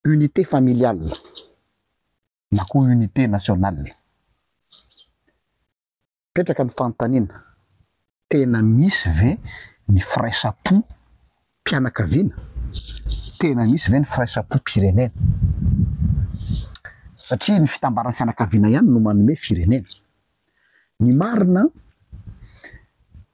unité familiale na koa unité nationale. Mipetraka ny fanontaniana, tena misy ve ny firaisam-po mpianakaviana? Tena misy ve ny firaisam-po-pirenena? Satria ny fitambaran'ny fianakaviana ihany no manome firenena. Ny marina,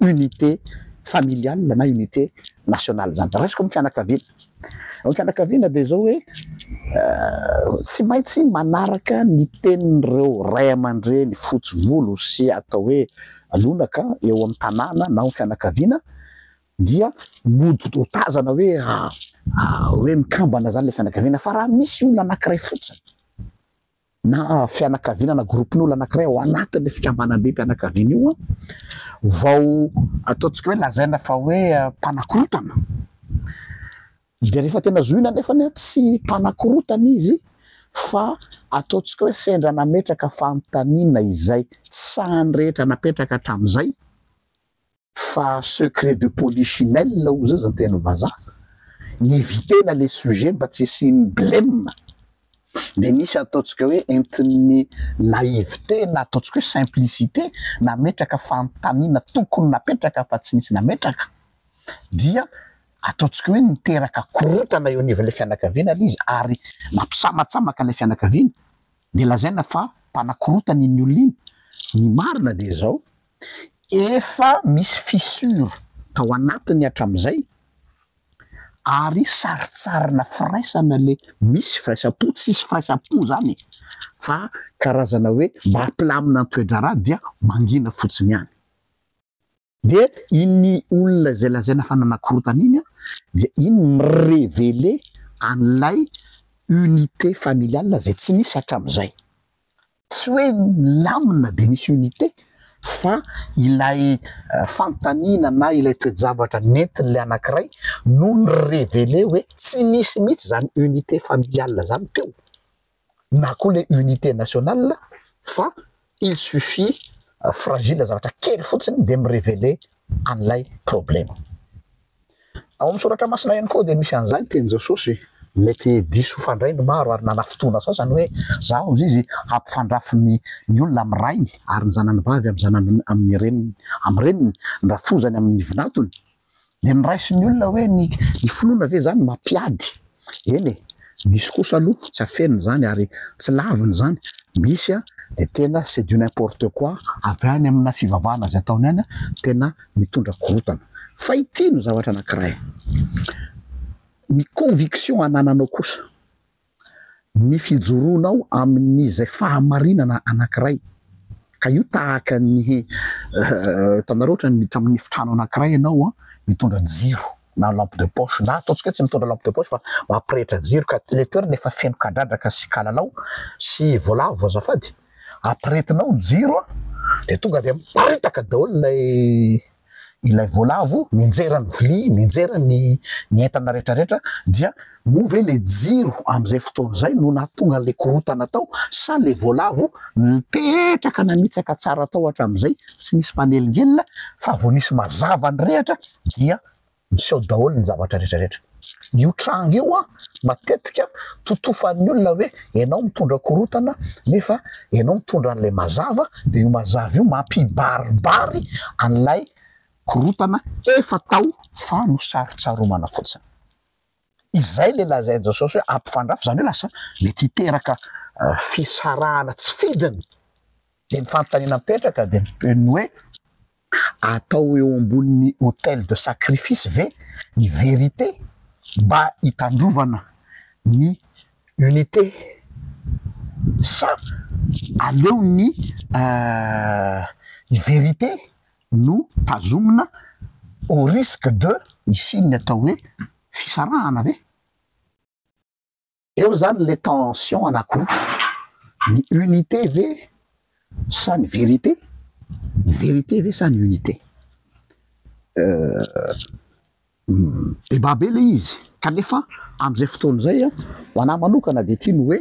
unité familiale na unité nationale zany raisiko am fianakaviana, am fianakaviana de zao hoe tsy maintsy manaraka ny tenin'ireo ray aman-dreny fotsy volo sy atao hoe lonaka eo am tanàna na ao fianakaviana dia mody dotazana hoe hoe mikambana zany le fianakaviana fa raha misy olona anakiray fotsiny na fianakaviana na gropin'olona anankiray ao anatin'ilay fikambanambem-pianakaviana io vao ataontsika hoe lazaina fa hoe mpanakorotana. Dia rehefa tena zohina anefa ny tsy mpanakorotana izy fa ataontsika hoe sendra nametraka fanontaniana izay tsy sahan'ny rehetra napetraka hatramin'izay, Fa secret de polichinelle hoy zaza teny vazaha. Ni-eviter-na le sujet mba tsy hisian'ny bleme. Dia nisy ataontsika hoe entin'ny naïveté na ataontsika hoe simplicité nametraka fanontaniana tokony napetraka fa tsy nisy nametraka. Dia ataontsika hoe niteraka korontana eo anivon'ilay fianakaviana ilay izy ary mampisamatsamaka ilay fianakaviana. Dia lazaina fa mpanakorontana iny olona iny. Ny marina dia izao, Efa misy fissure tao anatiny hatramin'izay ary sarintsarina firaisana ilay misy firaisam-po, tsy hisy firaisam-po izany e, fa karazana hoe mba hampilamina ny toe-draharaha dia mangina fotsiny ihany. Dia iny olona izay lazaina fa nanakorontana iny dia iny mi-reveler an'ilay unité familiale izay tsy nisy hatramin'izay. Tsy hoe nilamina dia nisy unité fa ilay fanontaniana na ilay toe-javatra nentin'ilay anankiray no ni-reveler hoe tsy nisy mihitsy izany unité familiale izany teo na koa ilay unité nationale fa il suffit fragile zavatra kely fotsiny dia mi-reveler an'ilay problème. Ao amin'ny Soratra Masina ihany koa dia misy an'izany tenin'i Jesosy. Mety diso fandray ny maro ary nanafy fotoana sasany hoe izaho, hoy izy, hampifandrafy ny olona amin'ny rainy ary ny zanany vavy amin'ny zanany amin'ny reniny, amin'ny reniny ny rafozany amin'ny vinantony. Dia ny raisin'ny olona hoe ny finoana ve izany mampiady? Eny e, misy kosa aloha tsy afenina izany ary tsy lavina izany, misy an dia tena c'est du n'importe quoi avy any amina fivavahana izay ataony any tena mitondra korontana. Fa ity no zavatra anankiray, ny conviction anananao kosa, ny fijoroanao amin'izay fahamarinana anankiray, ka io tahaka ny hitanareo ohatra ny tamin'ny efitrano anankiray ianao an, mitondra jiro, na lampe de poche na ataontsika hoe tsy mitondra lampe de poche fa mampirehitra jiro ka ilay toerana efa feno kadradraka sy kalalao sy voalavo azafady ampirehetinao ny jiro an! dia tonga dia miparitaka daholo ilay ilay voalavo mianjera ny vilia mianjera ny ny entana rehetrarehetra dia Moa ve le jiro amzay fotoana zay no nahatonga anle korotana tao sa le voalavo nipetraka nanitsaka tsara tao hatramzay tsy nisy mpanelingelina fa vo nisy mazava ny rehatra dia niseho daholo ny zavatra rehetra rehetra. Io tranga io an matetika totofan'ny olona hoe enao mitondra korotana nefa enao mitondra anle mazava de io mazava io mampibaribary anlay korotana efa tao fa nosarotsaromana fotsiny. Izay ilay lazain'i Jesosy hoe hampifandrafy, izany hoe lasa mety hiteraka fisarahana tsy fidiny. Dia ny fanontaniana mipetraka dia ny hoe, atao eo ambonin'ny autel de sacrifice ve ny vérité mba hitandrovana ny unité sa aleon'ny vérité no tazomina au risque de hisian'ny atao hoe fisarahana ve? Eo izany ilay tension anankiroa, ny unité ve sa ny vérité? Ny vérité ve sa ny unité? Euh. Débat be ilay izy kanefa amin'izay fotoana izay ho anah manokana dia ity no hoe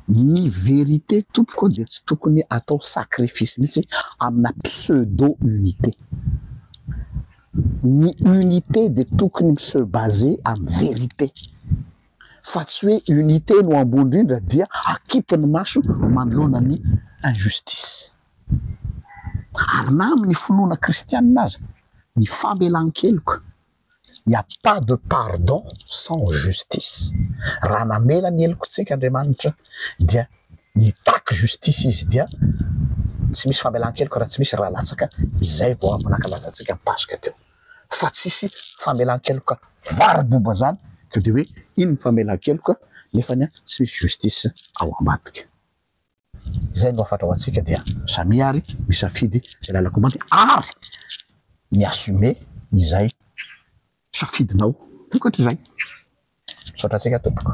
ny vérité tompoko dia tsy tokony atao sacrifice mihitsy amina pseudo unité. Ny unité dia tokony mi-se baser amin'ny vérité fa tsy hoe unité no ambony indrindra dia akipy ny maso manoloana ny injustice. ary na amin'ny finoana kristianina aza, ny famelan-keloka, il n'y a pas de pardon sans justice, raha namela ny helokantsika Andriamanitra dia nitaky justice Izy dia tsy misy famelan-keloka raha tsy misy ra latsaka, izay vao avy nankalaza antsika ny Paska teo, fa tsisy famelan-keloka vary boba izany ka dia hoe iny ny famelan-keloka nefany tsy misy justice ao ambadika. Izay no hafatra ho antsika dia samia ary misafidy izay lalan-kombandy ary mi-assumer izay safidinao vokatr'izay. Misaotra antsika tompoko.